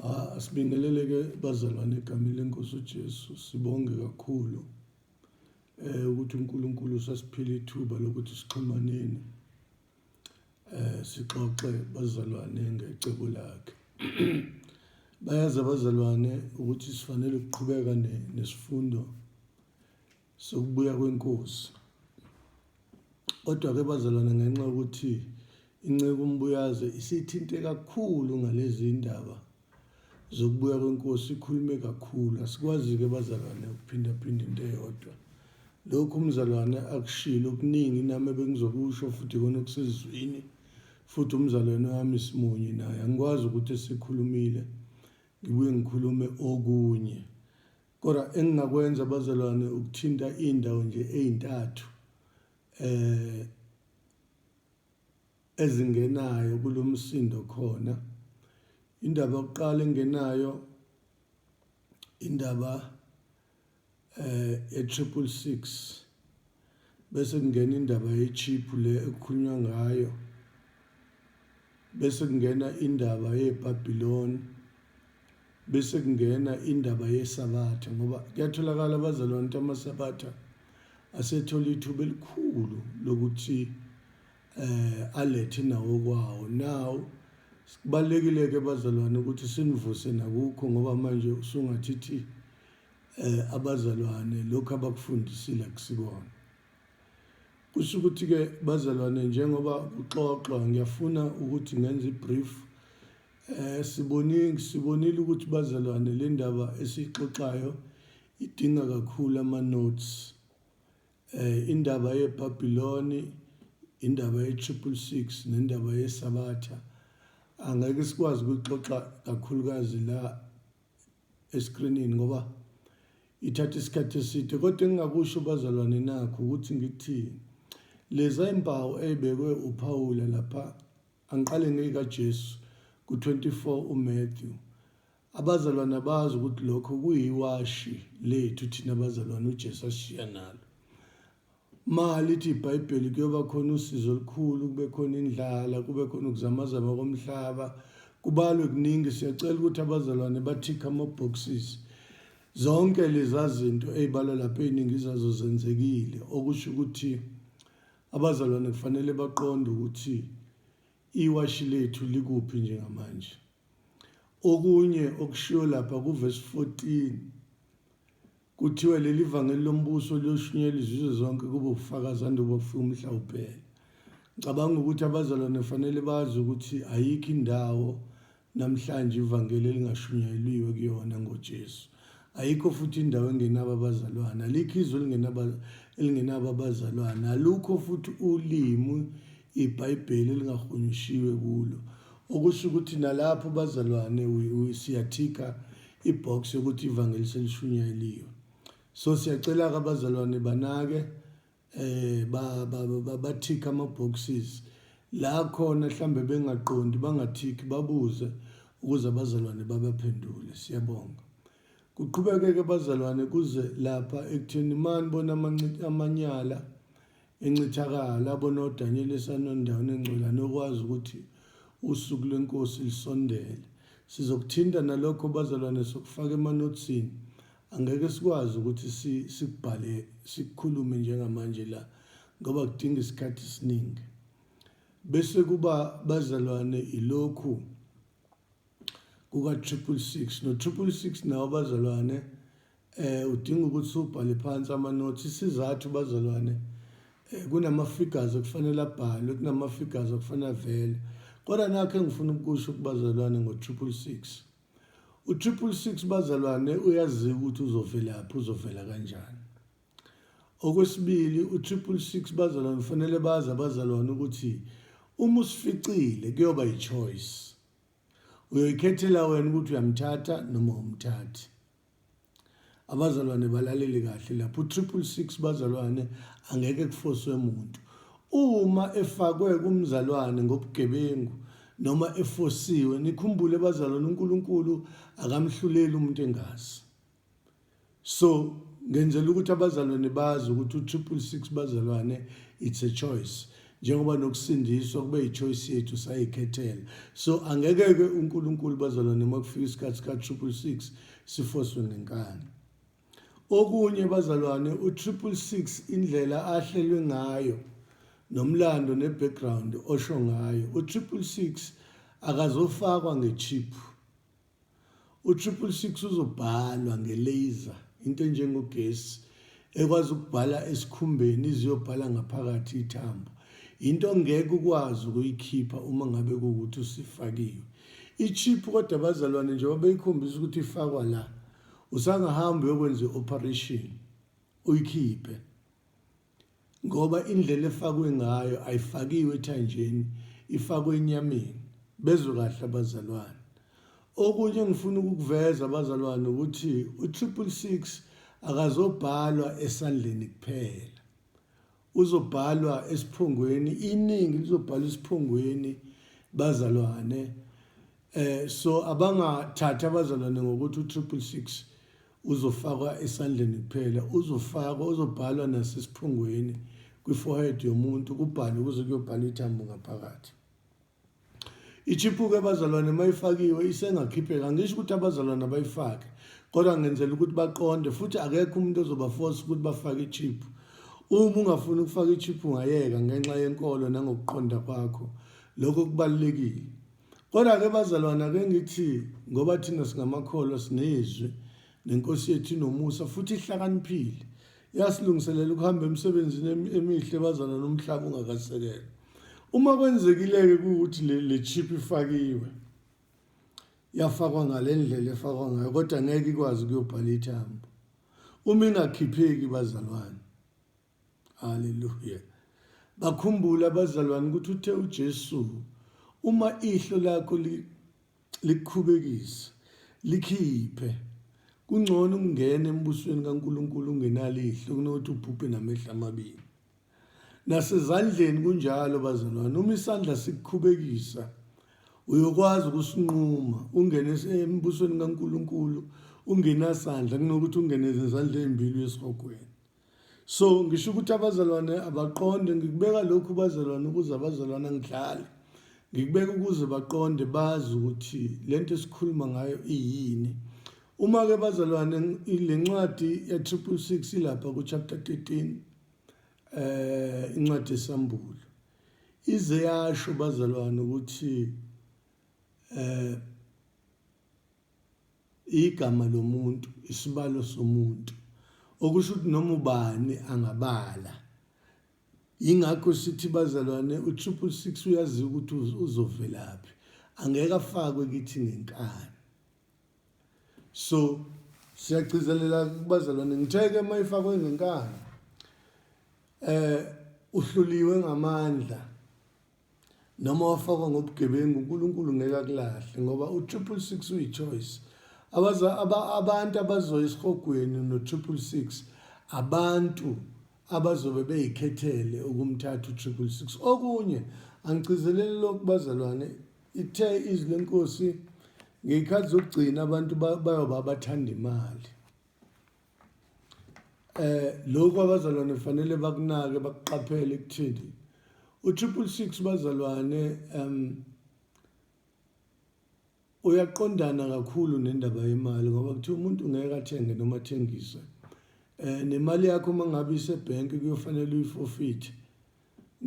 Ah, sibingeleleke bazalwane egameni lenkosi uJesu sibonge kakhulu eh ukuthi uNkulunkulu usasiphile ithuba lokuthi sixhumaneni eh sixoxe bazalwane ngecebo lakhe bayazi abazalwane ukuthi sifanele ukuqhubeka nesifundo sokubuya kwenkosi. Kodwa-ke bazalwane ngenxa yokuthi inceku umbuyaze isithinte kakhulu ngalezi ndaba zokubuya kwenkosi ikhulume kakhulu asikwazi-ke bazalwane ukuphindaphinda into eyodwa lokhu umzalwane akushilo okuningi nami ebengizokusho futhi kona okusezwini futhi umzalwane wami simunye naye angikwazi ukuthi esikhulumile ngibuye ngikhulume okunye Kodwa engingakwenza bazalwane ukuthinta indawo nje ezintathu eh ezingenayo kulomsindo khona indaba yokuqala engenayo indaba eh e 666 Bese kungena indaba ye-chip le ekukhulunywa ngayo, bese kungena indaba yeBabiloni, bese kungena indaba yeSabatha ngoba kuyatholakala abazalwane ukuthi amaSabatha asethola ithuba elikhulu lokuthi eh alethe nawo kwawo now kubalekile ke bazalwane ukuthi sinivuse nakukho ngoba manje usungathithi eh abazalwane lokho abakufundisile akusikona kusho ukuthi ke bazalwane njengoba uxoxwa ngiyafuna ukuthi ngenze ibrief eh sibonile sibonile ukuthi bazalwane le ndaba esixoxayo idinga kakhulu ama notes eh indaba yeBabiloni indaba ye 666 nendaba yesabatha angeke sikwazi ukuxoxa kakhulukazi la eskrinini ngoba ithatha isikhathi eside kodwa engingakusho bazalwane nakho ukuthi ngithi leza impawu eyibekwe uPawula lapha angiqale ngeyikaJesu ku-24 uMatthew abazalwane abazi ukuthi lokho kuyiwashi lethu thina bazalwane uJesu ashiya nalo Uma lithi iBhayibheli kuyoba khona usizi olukhulu, kube khona indlala, kube khona ukuzamazama komhlaba, kubalwe kuningi. Siyacela ukuthi abazalwane bathikhe ama-boxes. Zonke leza zinto ey'balwa lapha ey'ningi zazo zenzekile, okusho ukuthi abazalwane kufanele baqonde ukuthi iwashi lethu likuphi njengamanje. Okunye okushiwo lapha kuvesi 14 Kuthiwe leli vangeli lombuso liyoshunyelwa izizwe zonke kube ubufakazi andubo bufika umhla uphela. Ngicabanga ukuthi abazalwane fanele bazi ukuthi ayikho indawo namhlanje ivangeli elingashunyayeliwe kuyona ngoJesu. Ayikho futhi indawo engenabo abazalwane, alikho izwe elingenaba elingenabo abazalwane, alukho futhi ulimi iBhayibheli elingahunyushiwe kulo. Okusho ukuthi nalapho bazalwane siyathika ibox yokuthi ivangeli selishunyayeliwe so siyacela ke abazalwane banake eh bathika ama boxes la khona mhlambe bengaqondi bangathiki babuze ukuze abazalwane babaphendule siyabonga kuqhubekeke abazalwane kuze lapha ekutheni mani bona amanyala Incithakalo, abonodanyeli esanondaweni engcwela nokwazi ukuthi usuku lwenkosi lisondele. Sizokuthinta nalokho bazalwane sokufaka emanothsini. Angeke sikwazi ukuthi si, sikubhale, sikukhulume njengamanje la, ngoba kudinga isikhathi esiningi. Bese kuba bazalwane ilokhu kuka-triple six. No-triple six nawo bazalwane Eh udinga ukuthi ubhale phansi amanothi isizathu bazalwane eh, kunama figures okufanele abhalwe kunama figures okufanele avele kodwa nakho engifuna ukusho kubazalwane ngo 666 u 666 bazalwane uyazi ukuthi uzovelaphi uzovela kanjani okwesibili u 666 bazalwane kufanele bazi abazalwane ukuthi uma usificile kuyoba yichoice uyoyikhethela wena ukuthi uyamthatha noma umthathi abazalwane balalele kahle lapho u-triple six bazalwane angeke kufoswe muntu uma efakwe kumzalwane ngobugebengu noma efosiwe nikhumbule bazalwane unkulunkulu akamhluleli umuntu engazi so ngenzela ukuthi abazalwane bazi ukuthi u-triple six bazalwane it's a choice njengoba nokusindiswa kube yichoice yethu sayikhethela so angeke-ke unkulunkulu bazalwane uma kufika isikhathi sika-triple six sifoswe ngenkani okunye bazalwane u-triple six indlela ahlelwe ngayo nomlando ne-background osho ngayo u-triple six akazofakwa nge-chip U-triple six uzobhalwa nge-laser into enjengogesi ekwazi ukubhala esikhumbeni iziyobhala ngaphakathi ithambo into ongeke ukwazi ukuyikhipha uma ngabe kuwukuthi usifakiwe i-chip kodwa abazalwane njengoba beyikhombisa ukuthi ifakwa la usangahambi uyokwenza i-operation uyikhiphe ngoba indlela efakwe ngayo ayifakiwe ethanjeni ifakwe enyameni bezwe kahle abazalwane okunye engifuna ukukuveza abazalwane ukuthi u-triple six akazobhalwa esandleni kuphela uzobhalwa esiphongweni iningi lizobhalwa esiphongweni bazalwane eh so abangathatha abazalwane ngokuthi u-triple six Uzofakwa esandleni kuphela, uzofakwa, uzobhalwa nasesiphungweni kwi-forehead yomuntu kubhalwe kuze kuyobhalwa ithambo ngaphakathi. Ichiphuke abazalwane mayifakiwe isengakhipheka ngisho ukuthi abazalwane abayifake kodwa ngenzela ukuthi baqonde futhi akekho umuntu ozobaforce ukuthi bafake ichip uma ungafuni ukufaka ichip ungayeka ngenxa yenkolo nangokuqonda kwakho lokho kubalekile Kodwa ke bazalwana ke ngithi ngoba thina singamakholwa sinezwi nenkosi yethu inomusa futhi ihlakaniphile yasilungiselela ukuhamba emsebenzini emihle bazalwa nomhlaba ungakasekela uma kwenzekileke ukuthi le chip ifakiwe yafakwa ngalendlela efakwa ngayo kodwa ngeke ikwazi kuyobhala ithambo uma ingakhipheki bazalwane Hallelujah. Bakhumbule abazalwane ukuthi uthe uJesu uma ihlo lakho likhubekisa likhiphe kungcono ukungena embusweni kaNkuluNkulu ungenalo ihlo kunokuthi ubhubhe namehla amabili. Nasezandleni kunjalo bazalwane uma isandla sikukhubekisa uyokwazi ukusinquma ungene embusweni kaNkuluNkulu ungenasandla kunokuthi ungene ezandleni ezimbili uyesihogweni. so ngisho ukuthi abazalwane abaqonde ngikubeka lokhu bazalwane ukuze abazalwane angidlali ngikubeka ukuze baqonde bazi ukuthi le nto esikhuluma ngayo iyini uma-ke bazalwane le ncwadi ya-triple six ilapha ku-chapter 13 um eh, incwadi yesambulo ize yasho bazalwane ukuthi um Igama lomuntu, isibalo somuntu, okusho ukuthi noma ubani angabala. Yingakho sithi bazalwane u-triple six uyaziwa ukuthi uzovelaphi angeke afakwe kithi ngenkani so siyagcizelela kubazalwane ngitheke uma ifakwe ngenkani eh uhluliwe ngamandla Noma wafakwa ngobugebengu uNkulunkulu ngeke akulahle ngoba uTriple Six uyi-choice. Abaza aba, abantu abazoya esihogweni noTriple Six abantu abazobe beyikhethele ukumthatha uTriple Six. Okunye angigcizeleli lokhu bazalwane ithe izwi lenkosi ngeyikhathi zokugcina abantu bayoba bathanda imali eh lokho abazalwane fanele bakunake bakuqaphele kuthini u-triple six bazalwane um uyaqondana kakhulu nendaba yemali ngoba kuthiwa umuntu ngeke athenge noma athengise um nemali yakho uma ngabe isebhenki kuyofanele uyifofithe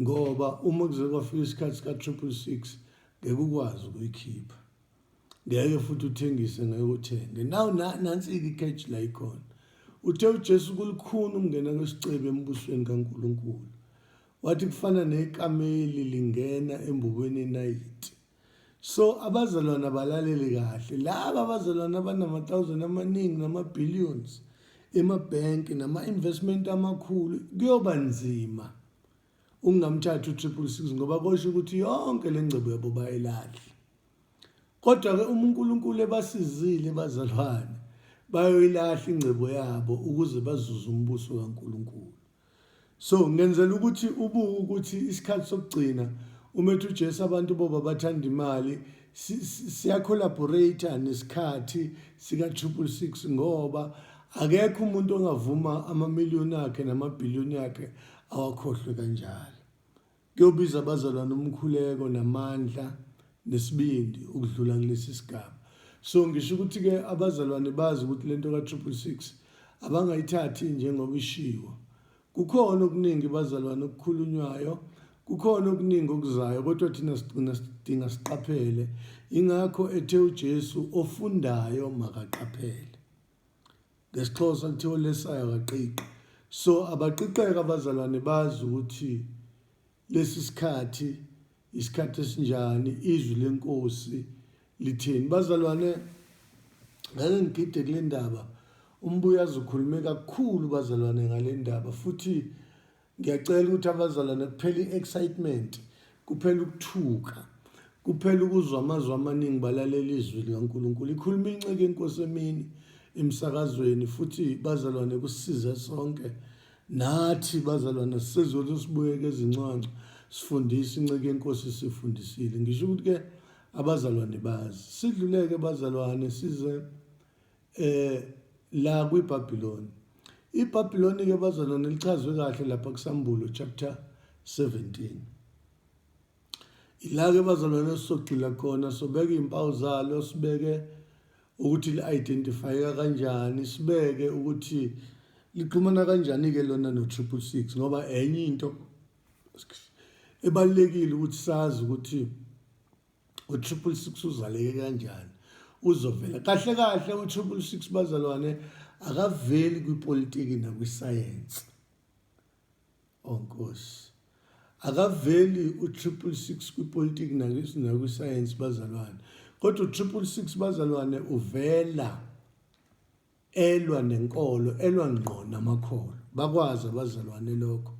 ngoba uma kuze kwafika isikhathi sika-triple six ngeke ukwazi ukuyikhipha ngeke futhi uthengise ngeke uthenge naw nansi-ke ikheji la ikhona uthe ujesu kulukhuni ukungena kwesicebi embusweni kankulunkulu wathi kufana nekameli lingena embubweni enayiti so abazalwane abalaleli kahle laba abazalwane abanama-thousand amaningi nama-billions emabhenki nama-investment amakhulu kuyoba nzima ungamthatha u-triple six ngoba kosho ukuthi yonke le ngcebo yabo bayelahle Kodwa-ke uma uNkulunkulu ebasizile bazalwane, bayoyilahla ingcebo yabo ukuze bazuze umbuso kaNkulunkulu. So ngenzela ukuthi ubuke ukuthi isikhathi sokugcina umethu uJesu abantu boba bathanda imali siyacollaborate nesikhathi sika 666 ngoba akekho umuntu ongavuma amamiliyoni akhe namabhiliyoni akhe awakhohlwe kanjalo. Kuyobiza abazalwane umkhuleko namandla nesibindi ukudlula kulesi sigaba. So ngisho ukuthi-ke abazalwane bazi ukuthi le nto ka-triple six abangayithathi njengoba ishiwo. Kukhona okuningi bazalwane okukhulunywayo, kukhona okuningi okuzayo kodwa thina sigcina sidinga siqaphele. Yingakho ethe uJesu ofundayo makaqaphele. ngesixhosa kuthiwa olesayo akaqiqi so abaqiqeka abazalwane bazi ukuthi lesi sikhathi isikhathi esinjani izwi lenkosi lithini bazalwane ngeke ngigide kule ndaba umbuyazi ukhulume kakhulu bazalwane ngale ndaba futhi Ngiyacela ukuthi abazalwane kuphele i-excitement, kuphele ukuthuka, kuphele ukuzwa amazwi amaningi balalela izwi likaNkulunkulu. Ikhuluma inceke inkosi emini emsakazweni futhi bazalwane kusize sonke nathi bazalwane sisezothi sibuyeke ezinconco sifundise inceke yenkosi sifundisile ngisho ukuthi ke abazalwane bazi sidluleke bazalwane size eh la kwiBabiloni iBabiloni ke bazana nilichazwe kahle lapha kuSambulo chapter 17 ila ke bazalwane sogxila khona sobeka izimpawu zalo sibeke ukuthi li-identifyeka kanjani sibeke ukuthi lixhumana kanjani-ke lona no-triple six ngoba enye into ebalulekile ukuthi sazi ukuthi utriple six uzaleke kanjani uzovela kahle kahle utriple six bazalwane akaveli kwipolitiki nakwisayensi onkosi oh, akaveli utriple six kwipolitiki nakwisayensi bazalwane kodwa utriple six bazalwane uvela elwa nenkolo elwa ngqo namakholo bakwazi abazalwane lokho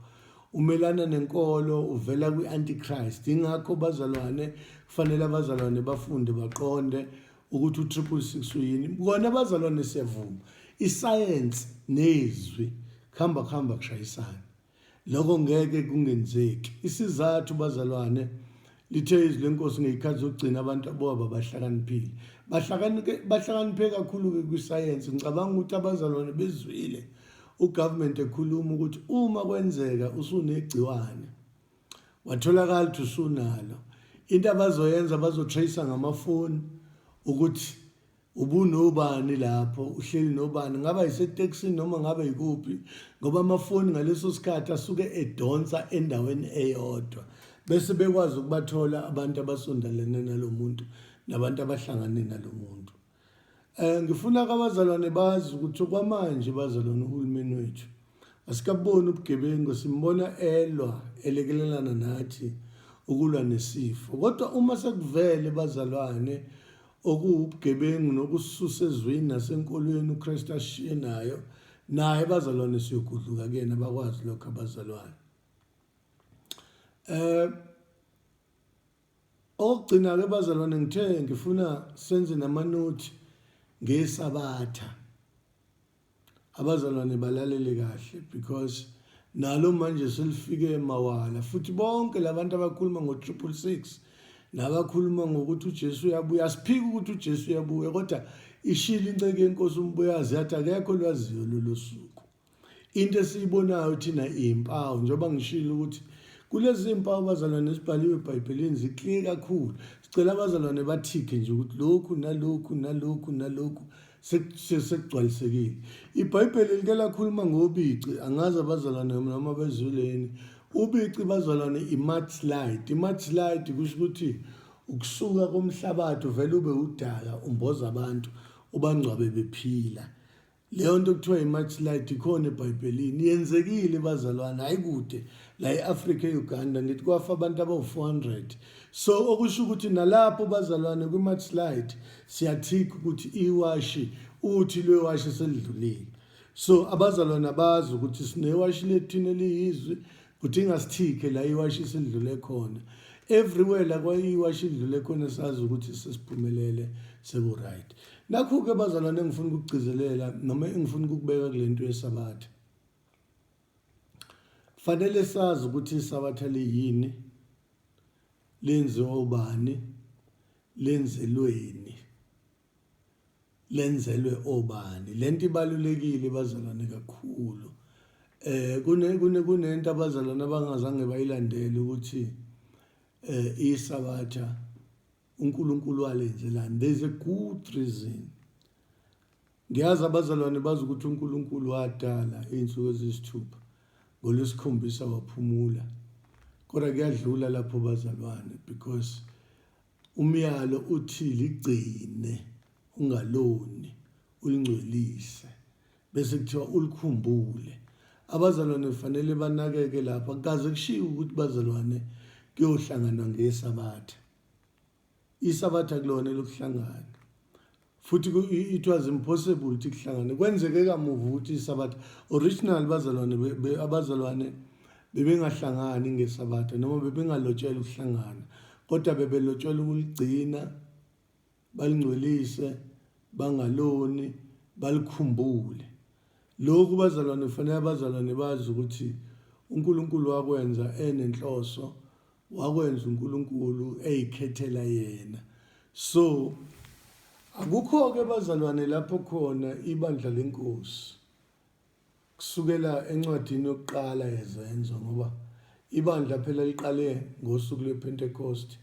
umelana nenkolo uvela kwi-antichrist ingakho bazalwane kufanele abazalwane bafunde baqonde ukuthi u-triple six uyini kona abazalwane siyavuma isayensi nezwi kuhamba kuhamba kushayisana Lokho ngeke kungenzeki. Isizathu bazalwane lithe izwi lenkosi ngeyikhathi zokugcina abantu aboba bahlakaniphile. Bahlakanike bahlakaniphe kakhulu ke kwisayensi. Ngicabanga ukuthi abazalwane bezwile ugovernment ekhuluma ukuthi uma kwenzeka usunegciwane watholakala ukuthi usunalo into abazoyenza bazotracer ngamafoni ukuthi ubunobani lapho uhleli nobani ngaba yisetekisini noma ngabe yikuphi ngoba amafoni ngaleso sikhathi asuke edonsa endaweni eyodwa bese bekwazi ukubathola abantu abasondelene nalo muntu nabantu abahlangane nalo muntu um ngifuna kabazalwane bazi ukuthi okwamanje bazalwane uhulumeni wethu asikaboni ubugebengu simbona elwa elekelelana nathi ukulwa nesifo kodwa uma sekuvele bazalwane okuwubugebengu nokususa ezweni nasenkolweni uKristu ashiye nayo naye bazalwane siyogudluka kuyena bakwazi lokho abazalwane eh okugcina ke bazalwane ngithe ngifuna senze namanothi ngesabatha abazalwane balalele kahle because nalo manje selifike mawala futhi bonke labantu abakhuluma ngo 666 nabakhuluma ngokuthi uJesu uyabuya asiphiki ukuthi uJesu uyabuya kodwa ishile inceke yenkosi umbuyazi yathi akekho lwaziyo lolu suku into esiyibonayo thina iyimpawu njengoba ngishilo ukuthi kulezi mpawu bazalwane esibhaliwe ebhayibhelini ziclear kakhulu sicela abazalwane bathikhe nje ukuthi lokhu nalokhu nalokhu nalokhu sekugcwalisekile ibhayibheli like lakhuluma ngobici angazi abazalwane noma bezuleni ubici bazalwane imatslide imatslide kusho ukuthi ukusuka komhlabathi uvele ube udaka umboza abantu ubangcwabe bephila leyo nto kuthiwa imatslide ikhona ebhayibhelini yenzekile bazalwane hayi kude la e-afrika e-uganda ngithi kwafa abantu abawu-400 so okusho ukuthi nalapho bazalwane kwi-match slide siyathika ukuthi iwashi uthi lwewashi selidlulile so abazalwane abazi ukuthi sinewashi lethina eliyizwi kuthi ingasithike la iwashi selidlule khona everywhere la kwayiwashi idlule khona sazi ukuthi sesiphumelele seku-right nakhu-ke bazalwane engifuna ukukugcizelela noma engifuna ukukubeka kule nto yesabatha Fanele sazi ukuthi isabatha liyini, lenziwa ubani, lenzelweni, lenzelwe obani. Lento ibalulekile bazalwane kakhulu. Eh kune kune kunento abazalwane abangazange bayilandele ukuthi eh isabatha uNkulunkulu walenze lani there's a good reason ngiyazi abazalwane bazi ukuthi uNkulunkulu wadala izinsuku ezisithupha ngolwesikhombisa waphumula kodwa kuyadlula lapho bazalwane because umyalo uthi ligcine ungaloni ulingcwelise bese kuthiwa ulikhumbule abazalwane kufanele banakeke lapho akukaze kushiwo ukuthi bazalwane kuyohlanganwa ngesabatha isabatha kulona lokuhlangana futhi it was impossible ukuthi kuhlangane kwenzeke kamuva ukuthi isabatha original bazalwane abazalwane bebengahlangani ngesabatha noma bebengalotshelwa ukuhlangana kodwa bebelotshelwa ukuligcina balingcwelise bangaloni balikhumbule lokhu bazalwane kufanele abazalwane bazi ukuthi uNkulunkulu wakwenza enenhloso wakwenza uNkulunkulu eyikhethela yena so akukho ke bazalwane lapho khona ibandla lenkosi kusukela encwadini yokuqala yezenzo ngoba ibandla phela liqale ngosuku lwepentekosti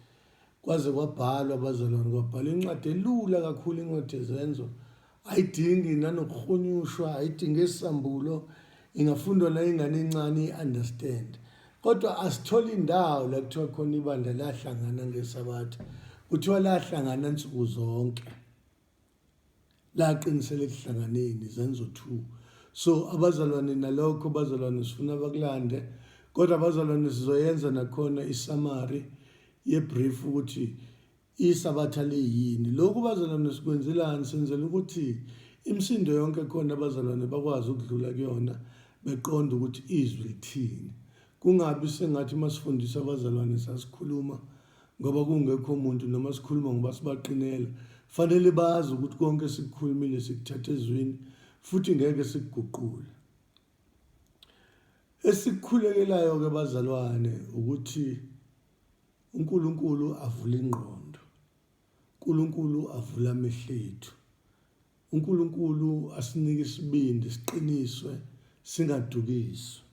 kwaze kwabhalwa abazalwane kwabhalwa incwadi elula kakhulu incwadi yezenzo ayidingi nanokuhunyushwa ayidingi esambulo ingafundwa nayingane encane i-understand kodwa asitholi indawo la kuthiwa khona ibandla lahlangana ngesabatha kuthiwa lahlangana nsuku zonke laqinisela ekuhlanganeni zenzo 2 so abazalwane nalokho bazalwane sifuna bakulande kodwa abazalwane sizoyenza nakhona isamari yebrief ukuthi isabatha liyini lokhu bazalwane sikwenzelani senzela ukuthi imisindo yonke khona abazalwane bakwazi ukudlula kuyona beqonda ukuthi izwi lithini kungabi sengathi masifundisa abazalwane sasikhuluma ngoba kungekho muntu noma sikhuluma ngoba sibaqinela fanele bazi ukuthi konke sikukhulumile sikuthatha ezwini futhi ngeke sikuguqule esikhulekelayo ke bazalwane ukuthi uNkulunkulu avule ingqondo uNkulunkulu avule amehlo ethu uNkulunkulu asinike isibindi siqiniswe singadukiswa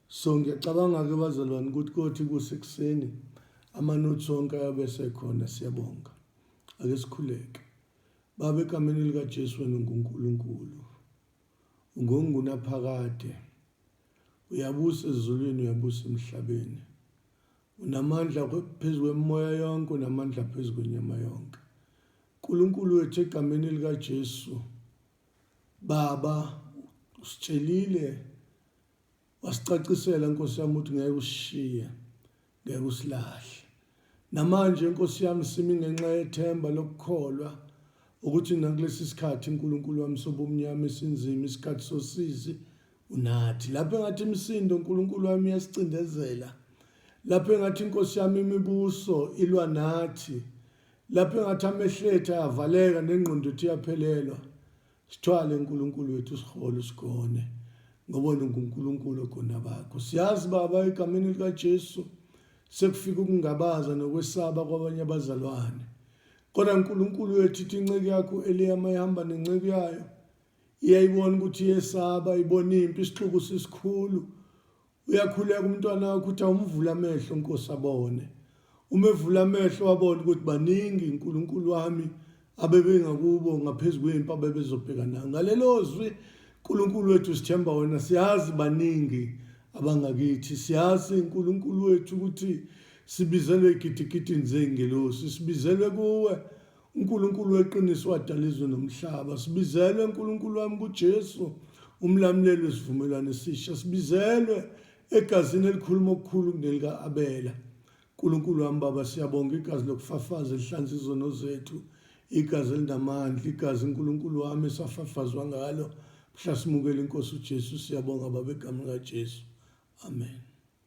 so ngiyacabanga-ke bazalwane ukuthi kothi kusekuseni amanothi onke ayabe sekhona siyabonga ake sikhuleke baba egameni likajesu wena ungunkulunkulu ungongunaphakade uyabusa ezulwini uyabusa emhlabeni Unamandla phezu kwemimoya yonke, unamandla phezu kwenyama yonke. Nkulunkulu wethu egameni likaJesu, Baba, usitshelile wasicacisela Nkosi yami ukuthi ngeke usishiye, ngeke usilahle. Namanje Nkosi yami simi ngenxa yethemba lokukholwa ukuthi nakulesi sikhathi uNkulunkulu wami sobumnyama esinzima isikhathi sosizi Unathi lapho engathi imisindo uNkulunkulu wami yasicindezela lapho engathi inkosi yami imibuso ilwa nathi lapho engathi amehletha ayavaleka nengqondo ethu iyaphelelwa sithwale uNkulunkulu wethu sihole sigone ngoba nguNkulunkulu ogona bakho siyazi baba egameni likaJesu sekufika ukungabaza nokwesaba kwabanye abazalwane kodwa uNkulunkulu wethu ithi inceku yakho eliyama ihamba nenceku yayo iyayibona ukuthi iyesaba ibona impi isixuku sisikhulu uyakhuleka umntwana wakho ukuthi awumvula amehlo nkosi abone uma evula amehlo wabona ukuthi baningi uNkulunkulu wami abebengakubo ngaphezulu kwempi abebezobhekana ngalelo zwi uNkulunkulu wethu sithemba wena siyazi baningi abangakithi siyazi uNkulunkulu wethu ukuthi sibizelwe igidigidini zengelosi sibizelwe kuwe uNkulunkulu weqiniso wadala izwe nomhlaba sibizelwe uNkulunkulu wami kuJesu umlamuleli wesivumelwano esisha sibizelwe egazini elikhuluma okukhulu kunelika Abela uNkulunkulu wami baba siyabonga igazi lokufafaza elihlanza izono zethu igazi elinamandla igazi uNkulunkulu wami esafafazwa ngalo mhla simukela inkosi uJesu siyabonga baba egameni likaJesu amen